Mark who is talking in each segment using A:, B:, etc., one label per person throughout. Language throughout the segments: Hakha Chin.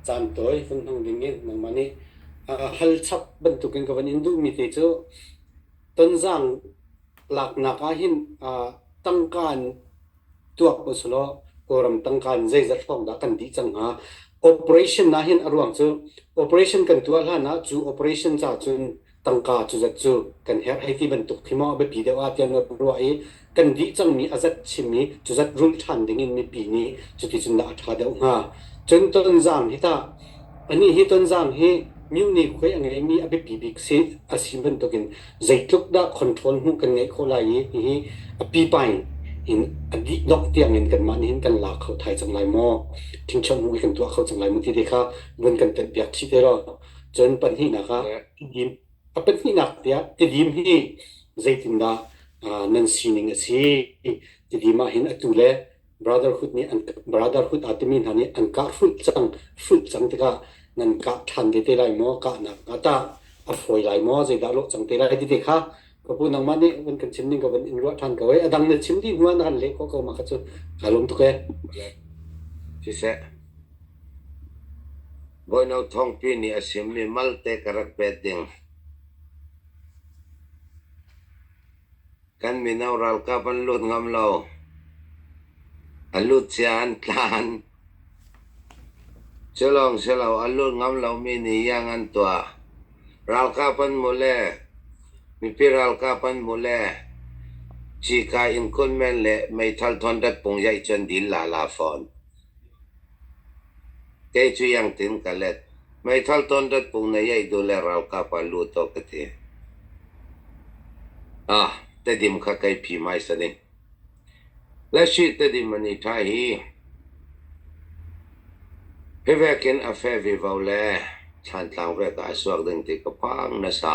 A: Caan tawi kan hmang ding in nangmah nih hal chap bantuk in ka van in duhmi te cu Tonzang laknak ah hin tangka in tuak usulaw Kawlram tangka in zeizat hrawk dah kan dih cang hnga? Operation ahhin a ruang cu operation kan tuah hlan ah cu operation ca cun tangka cu zat cu kan herh hei ti bantuk khi maw a biapi deuh ah tiah an rak ruah i kan dih cangmi a zat chim i cu zat rulh ṭhan dingin mipi nih cuticun dah a ṭha deuh hnga? Cun Tonzang hi tah anih hi Tonzang hi myu nikhue a ngeimi a biapi bik si a si bantukin Zeitluk dah control hmuh kan ngeih khawh lai i hihi a pipa in a dih dongh tiangin kanmah nih hin kan la kho thai cang lai maw? Thingṭhiang hmuh hi kan tuah kho cang lai maw ti te kha vun kan telh piak chih te law cun pahnihnak ah tidim a pahnihnak tiah tidim hi zeitindah nan sining a si? Tidim ahhin atu le Brotherhood aa timi hna nih an kah hrulh cang. Hrulh cang tikah nan kah ṭhan te te lai maw? Kahnak hnga tah? A fawi lai maw? Zeidah lawh cang te lai ti te kha ka pu nangmah nih van kan chim ning ka van in ruah ṭhan ko ee. A dang na chim dih hnuah na kan leh khawh ko mah kha cu kaa lum tuk ee. Siseh, Boino Thawngpi nih a chimmi malte ka rak pet ding. Kan mino ralkap an lut ngam lo. A lut cia an tlan. Cu lawng si lo, a lut ngam lomi nih iang an tuah. Ralkap an hmuh le, mipi ralkap an hmuh le, cika in kun men le meithal thawnret pung zaih cu an dil lala fawn. Kei cu iang tein ka let. Meithal tawn dat pung na iaih duh le ralkap ah lut awk ka ti. Ah, Tedim kha kai phim hai sa ding. Lasih Tedim an i ṭha hi phivek in a feh vevau le thlan tlang vek ah a suak ding ti ka phang nasa.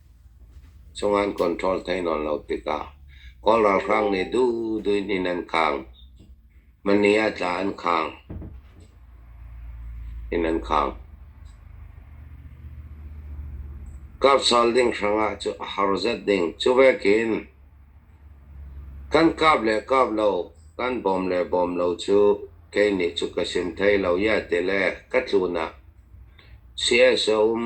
A: Cungan control thei nawn lo tikah Kawl ralhrang nih duhdui in an khang. Manni ah tla an khang. Inn an khang. Karhsal ding hrangah cu a har zet ding. Cuvekin kan kap le kap lo, kan bawm le bawm lo cu kei nih cu ka sim thai lo, iah ti le ka tlunak si-es a um.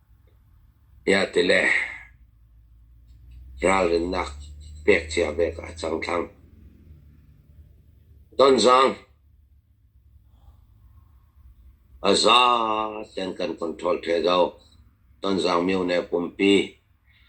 A: Tiah ti le ralrinnak pek cia bek ah a cang thlang. Donzang, a za tein kan control the zo. Donzang myo ne pumpi.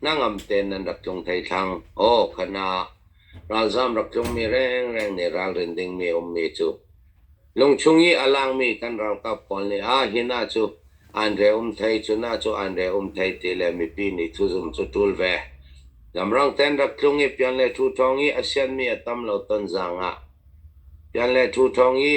A: Hnangam tein nan rak tlung hlei thlang. Aw kha na, ralzam rak tlungmi rengreng nih ralrin dingmi a ummi cu. Lungchung i a langmi kan ralkap pawl nih ah hi na cu an re um thei, cu na cu an re um thei ti le mipi nih thuzum cu ṭul ve. Lamrang tein rak tlung i pian le ṭhu ṭhawng i a sianmi a tam lo ton zangah pian le ṭhu ṭhawng i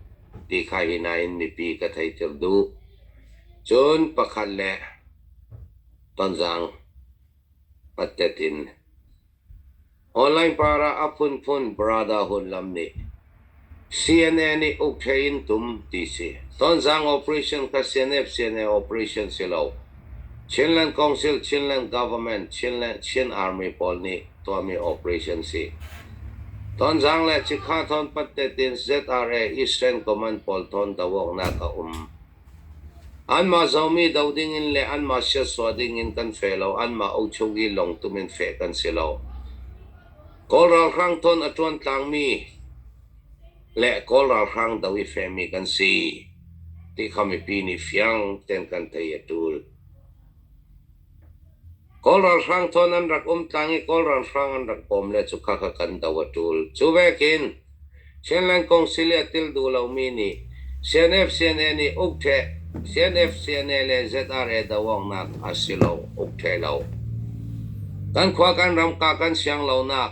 A: Ti kha hi nain mipi ka theihter duh. Cun pakhat le tonzang pattet in online parah a phunphun Brotherhood lam nih CNA nih uk ṭheh in tum ti si. Tonzang operation kha CNF CNA operation si lo. Chinland Council, Chinland Government, Chinland Chin Army pawl nih tuahmi operation si. Tonzang le Chikkha thawn Pattetin ZRA Eastern Command pawl thawn dohawknak a um. Anmah zomi do ding in le anmah siasua ding in kan fe lo, anmah ochung i longtum in feh kan si lo. Kawl ralhrang thawn a ṭuan tlangmi le Kawl ralhrang do hi fekmi kan si ti kha mipi nih fiang tein kan thei a ṭul. Kawl ralhrang thawn an rak um tlang i Kawl ralhrang an rak bawm le cu kha kha kan do a ṭul. Cu vekin Chinland Council i a til duh lomi nih CNF-CNA nih ukṭheh CNF-CNA le ZRA do awknak a si lo, ukṭheh lo. Kan khua kan ram ka kan siang lonak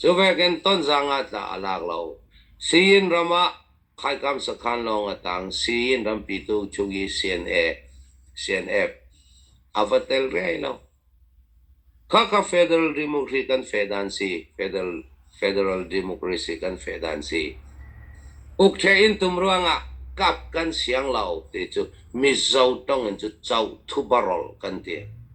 A: Cu vekin Tonzang ah tla a lak lo. Sii-inn ram ah khaikam sakhan lawng a tang. Sii-inn rampitu Chugi CNF a va tel riai lo. Khakha Federal Democracy kan feh dan si. Federal Democracy kan feh dan si. Ukṭhe in tum ruangah kap kan siang lo ti cu Mizo tong in cu co thubarol kan ti.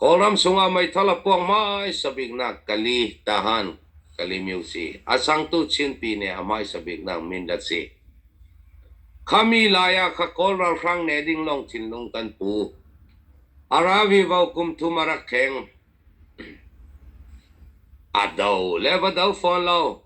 A: Kawlram sungah meithal a puang hmaisa biknak Kali Tahan Kali Myusi a changtu Chinpi nih a hmaisa biknak Mindat a si. Khami lai ah kha Kawl ralhrang ne ding lawng thinlung kan pu. A ravi vo kum thum a rak kheng. A do le va do fawn lo.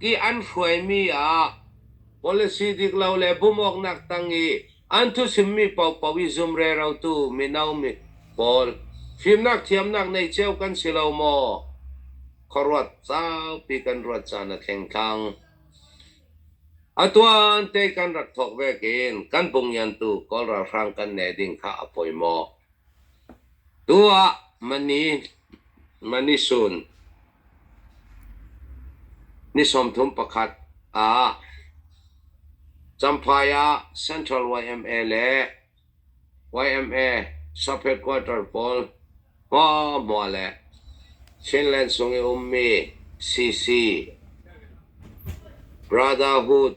A: i an hruaimi ah policy dik lo le bum awknak tang i an thusimmi paohpaoh i zum rerotu mino mi pawl fimnak thiamnak nei cio kan si lo maw khuaruat saupi kan ruat caan a thleng thlang atuan te kan rak thawk vekin kan pungyantu kawl ralhrang kan ne ding kha a poi maw tu ah mani mani sun Ni sawmthum pakhat ah Champhai ah Central YMA le YMA sub-headquarter pawl hmuahhmuah le Chinland chung i ummi CC Brotherhood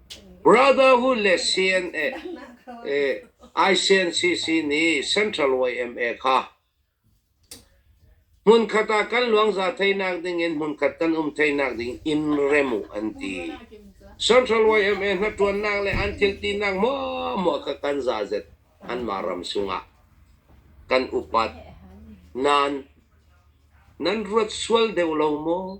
A: Brotherhood le CNA-ICNCC nih Central YMA kha hmunkhat ah kan luangza theinak dingin hmunkhat kan um theinak ding in rem uh an ti. Central YMA hnaṭuannak le an thiltinak muamua kha kan zazet anmah ram sungah kan upat. Nain nan ruat sual deuh lo maw?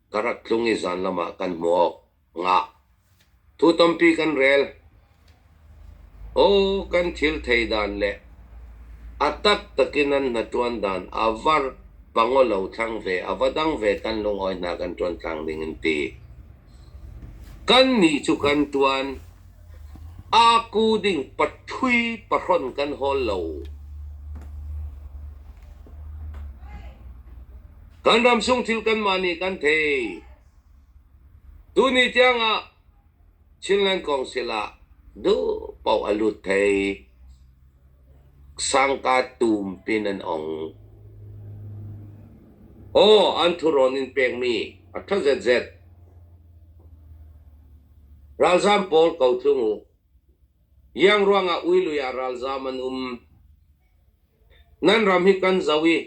A: ka rat tlung i zanlam ah kan hmu awk ngah. Thu tampi kan rel. Aw kan thil thei dan le a taktak in an hnaṭuan dan a var pangolo thlang ve a va dang ve kan lungawi hna kan ṭuan tlang ding an ti. Kannih cu kan ṭuan. A ku ding pathui pahrawnh kan hawl lo. Kan ramsung thil kanmah nih kan thei. Tuni tiangah Chinland Council ah duh paoh a lut thei. Sangka tum pin an ong. Aw, an thurawn in pekmi a ṭha zetzet. Ralzam pawl ko tlung u. Yang ruangah uilui ah ralzam an um. Nan ram hi kan zo i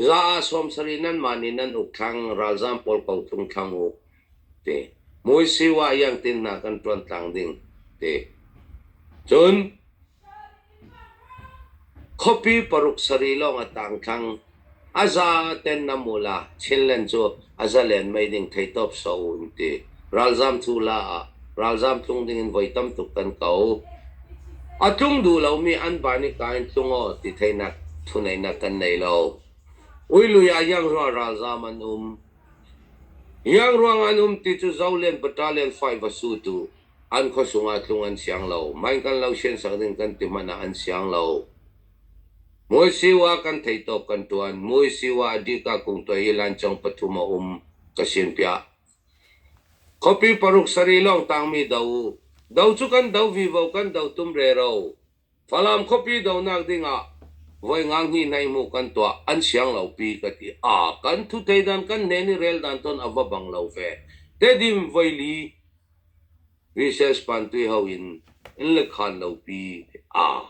A: Za ah sawm sarih nanmah nih nan uk thlang, ralzaam pawl kong tlung thlang u, ti. Mui siwah iangtin hna kan ṭuan tlang ding, ti. Cun khuapi paruk sarih lawng a tang thlang. A za ten nam u la, Chinland cu a zalen mei ding theitawp sawh u, an ti. Ralzaam cu la ah ralzaam tlung dingin voi tam tuk kan ko. A tlung duh lomi an pa nih ka in tlung aw ti theihnak thuneihnak kan nei lo. Uilui ah hiangrual ralzaam an um. Hiangruang an um ti cu zo len pata len fai va sutu an khuasung ah tlung an siang lo. Man kan lo sien sak ding kan ti hmanh ah an siang lo. Muisiwa kan thei tawp kan tuan. Muisiwa dika kung tuai hi lancang pathum a um ka sin piah. Khuapi paruk sarih lawng tangmi do. Do cu kan do vivo kan do tum rero. Falam khuapi donak dingah voi ngang hnih hlei hmuh kan tuah an siang lo pi ka ti. A kan thu thei dan kan hnen i rel dan ton a va bang lo ve. Tedim voi li recess pan tui ho in in le khan lo pi. A.